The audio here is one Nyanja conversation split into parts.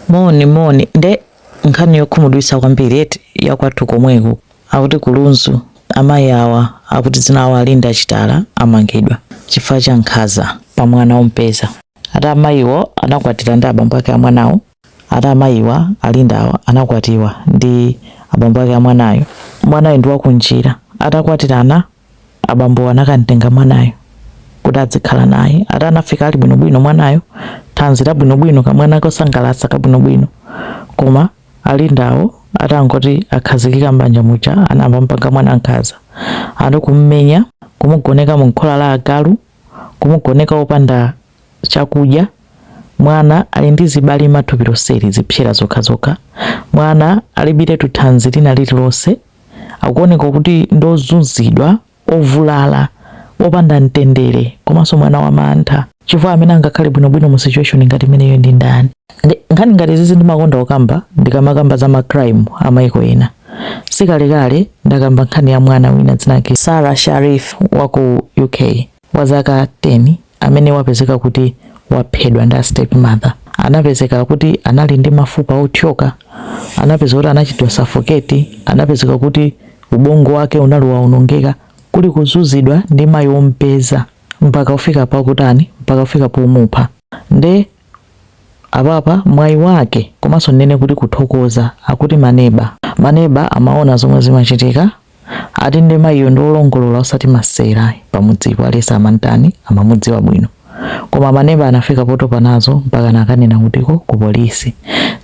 moni moni nde nkhani yokhumudwitsa kwambiri eti yakwathu komweko akuti kulunzu amayi awa akuti dzina awo alinda achitala amangidwa chifukwa cha nkhaza pa mwana ompeza ati amayiwo anakwatira ndi abambo ake amwanawo ati amayiwa alinda awa anakwatiwa ndi abambo ake amwanayo mwanayo ndi wakunjira atakwatirana Abambowo anakamtenga mwanayo kuti adzikhala naye. Ati anafika ali bwinobwino mwanayo, thanzi labwinobwino, kamwana kosangalatsa kabwinobwino. Koma a Lindawo atangoti akhazikika m'banja muja anayamba kumupanga mwana nkhanza. Ati kumumenya, kumugoneka mumkhola la agalu, kumugoneka wopanda chakudya, mwana ali ndi zibalima mthupi lonseli, zipsera zokhazokha, mwana alibiretu thanzi lina lililonse. akuoneka kuti ndi ozunzidwa, ovulala, opanda mtendere komanso mwana wa mantha chifukwa amene angakhale bwinobwino mu situation ngati imeneyo ndi ndani nkhani ngati zizi ndimakonda kukamba ndikamakamba za macrime a maiko ena sikalekale ndakamba nkhani ya mwana wina dzina lake Sarah Sharif wa ku UK wa zaka 10 amene wapezeka kuti waphedwa ndi a stepmother anapezeka kuti anali ndi mafupa othyoka, anapezeka kuti anachitidwa suffocate, anapezeka kuti ubongo wake unali waonongeka, kuli kuzunzidwa ndi mayi wompeza mpaka kufika pakutani, mpaka kufika pomupha nde apapa mwayi wake komanso ndinene kuti kuthokoza akuti maneba maneba amaona zomwe zimachitika Ati nde mayiyo ndi olongolola osati masewera ayi pamudzipo aliyese amantani amamudziwa bwino koma maneba anafika potopa nazo mpakana akanena kutiko ku polisi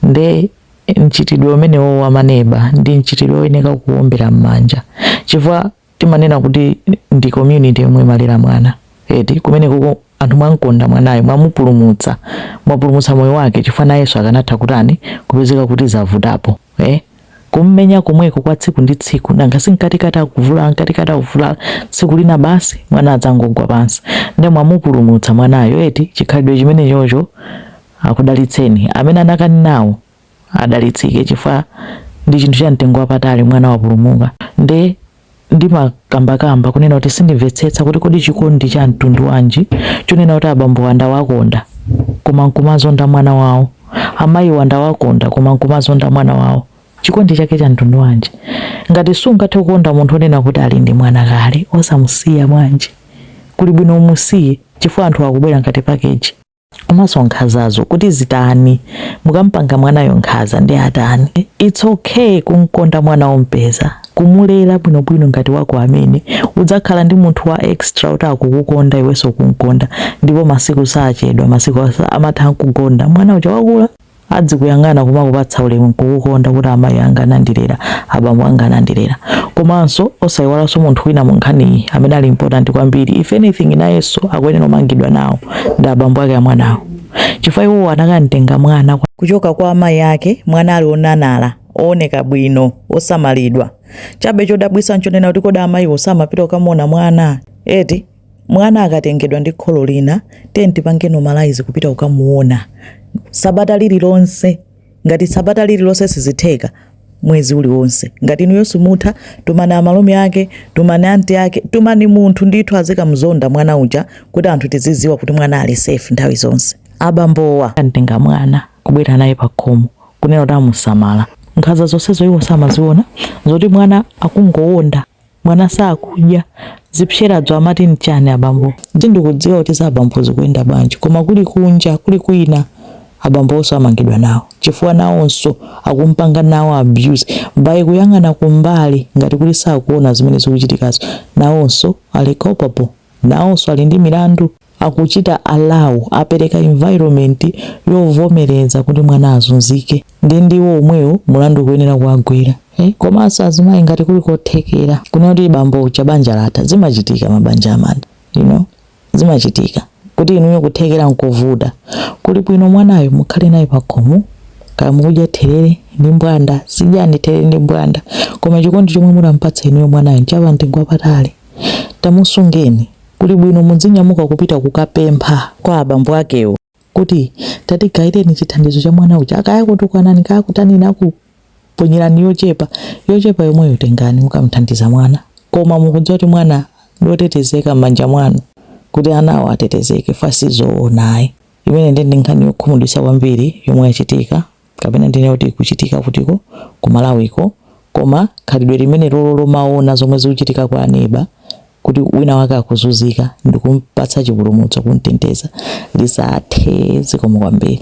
nde mchitidwe umenewo wa maneba ndi mchitidwe oyeneka kuombera mmanja chifukwa timanena kuti ndi community yomwe imalera mwana eti kumene kuko anthu mwamkonda mwanayo mwamupulumutsa mwapulumutsa moyo wake chifukwa nayenso akanatha kutani kupezeka kuti zavutapo eh? kummenya komweko kwa tsiku ndi tsiku nanga si mkatikati akuvulala mkatikati akuvulala tsiku lina basi mwana adzangogwa pansi nde mwamupulumutsa mwanayo eti chikhalidwe chimenechocho akudalitseni amene anakanenawo adalitsike chifukwa ndi chinthu cha mtengo wapatali mwana wapulumuka nde ndimakambakamba kunena kuti sindimvetsetsa kuti kodi chikondi cha mtundu wanji chonena kuti abambowa ndawakonda koma nkumazonda mwana wawo amayiwa ndawakonda koma nkumazonda mwana wawo chikondi chake cha mtundu wanji ngati sungathe kukonda munthu onena kuti ali ndi mwana kale osamusiya bwanji kuli bwino umusiye chifukwa anthu akubwera ngati pakeji komanso nkhazazo kuti zitani mukampanga mwanayo nkhaza nde atani its okay kumkonda mwana wompeza kumulera bwinobwino ngati wako amene udzakhala ndi munthu wa extra kuti akukukonda iwenso kumkonda ndipo masiku sachedwa masiku amathamanga ukugona mwana uja wakula adzikuyang'ana kumakupatsa ulemu nkukukonda kuti amayi anga anandilera, abambo anga anandilera. Komanso osaiwalanso munthu wina munkhaniyi amene ali important kwambiri if anything nayenso akuyenera kumangidwa nawo ndi abambo ake amwanawo chifukwa iwowo anakamtenga mwana kuchoka kwa amayi ake mwana ali onanala ooneka bwino osamalidwa chabe chodabwitsa nchonena kuti kodi amayiwo samapita kukamuona mwana eti Mwana akatengedwa ndi kholo lina, tiyeni tipange normalize kupita kukamuona sabata lililonse. Ngati sabata lililonse sizitheka, mwezi uliwonse. Ngati inuyo simutha, tumani amalume ake, tumani anti ake, tumani munthu ndithu azikamuzonda mwana uja kuti anthu tizidziwa kuti mwana ali safe nthawi zonse. Abambowa amtenga mwana kubwera naye pakhomo kunena kuti amusamala. Nkhanza zonsezo iwo samaziona, zoti mwana akungowonda. Mwana sakudya zipseradzo amati nchani abambo? Sindikudziwa kuti za abambo zikuyenda bwanji koma kuli kunja kuli kwina abambowonso amangidwa nawo chifukwa nawonso akumpanga nawo abuse by kuyang'ana kumbali ngati kuti sakuona zimene zikuchitikazo. Nawonso ali culpable? Nawonso ali ndi milandu? akuchita allow, apereka environment yovomereza kuti mwana azunzike, ndi ndiwo omwewo mulandu ukuyenera kuwagwera. Eh, komanso azimayi ngati kuli kothekera kunena kuti bambo uja banja latha zimachitika mabanja amatha you know zimachitika kuti inuyo kuthekera nkovuta kuli bwino mwanayo mukhale naye pakhomo kaya mukudya therere ndi mbwanda zidyani therere ndi mbwanda koma chikondi chomwe mutampatse inuyo mwanayo nchapa mtengo wapatali tamusungeni Kuli bwino mudzinyamuka kupita kukapempha kwa abambo akewo kuti tatigayireni chithandizo cha mwana uja, kaya akutukwanani kaya akutanini, akuponyerani yochepa yochepa yomweyo, tengani mukamthandiza mwana, koma mukudziwa kuti mwana ndotetezeka m'manja mwanu kuti anawo atetezeke apa sizoona ayi. Imeneyi ndi nkhani yokhumudwitsa kwambiri yomwe yachitika kapena ndinene kuti ikuchitika kudziko ku Malawiko koma khalidwe limenelolo lomaona zomwe zikuchitika kwa aneba kuti wina wake akuzunzika ndikumpatsa chipulumutso kumteteza lisathe zikomo kwambiri